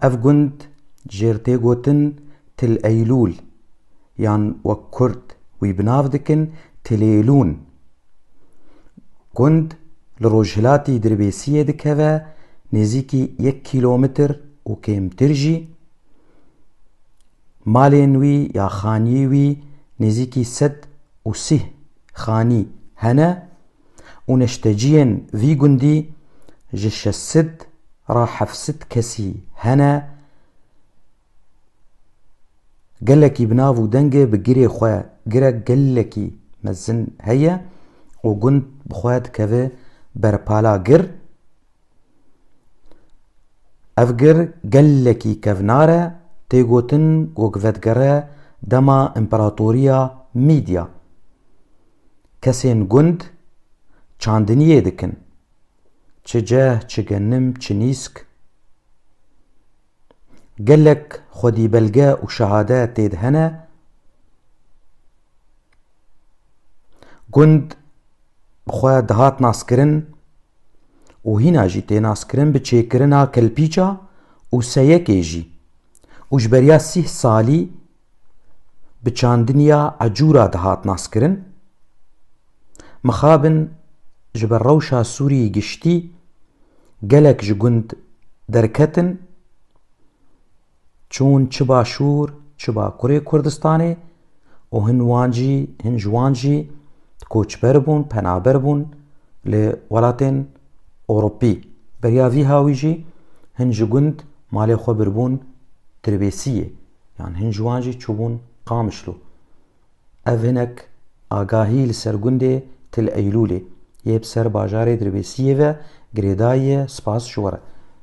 Ev gund jêr tê gotin Til Eylûl yan wek kurd wî bi nav dikin Tilêlûn. Gund li rojhilatî Dirbêsiyê dikeve nêzîkî yek kîlometr û kêmtir jî. Malên wî ya xanî wî nêzîkî sed û sîh xanî hene. û neşteciyên vî gundî ji şeş sed ra heft sed kesî hene gelekî bi nav û dengê bi girê xwe girek gelekî mezin heye û gund bi xwe dikeve ber pala gir. Ev gir gelekî kevnar e, tê gotin ku gi vedigere dema împeratoriya Mîdya. Kesên gund çandiniyê dikin, çi ceh, çi genim, çi nîsk. Gelek xwedîbelge û şehade tê de hene. Gund bi xwe dihat naskirin û hîna jî tê naskirin bi çêkirina kelpîça û seyekê jî û ji beriya sîh salî bi çandiniya ecûra dihat naskirin, mixabin ji ber rewşa Sûriyê giştî gelek ji gund derketin çûn çi başûr çi bakurê Kurdistanê û hin wan jî hin ji wan jî koçber bûn penaber bûn li welatên Ewropî. Beriya vî hawî jî hin ji gund malê xwe birbûn Tirbêsiyê. Yan hin ji wan jî çûbûn Qamişlo. Ev hinek agahî li ser gundê Til Eylûlê yê bi ser bajarê Dirbêsiyê ve girêdayiye spas ji we re.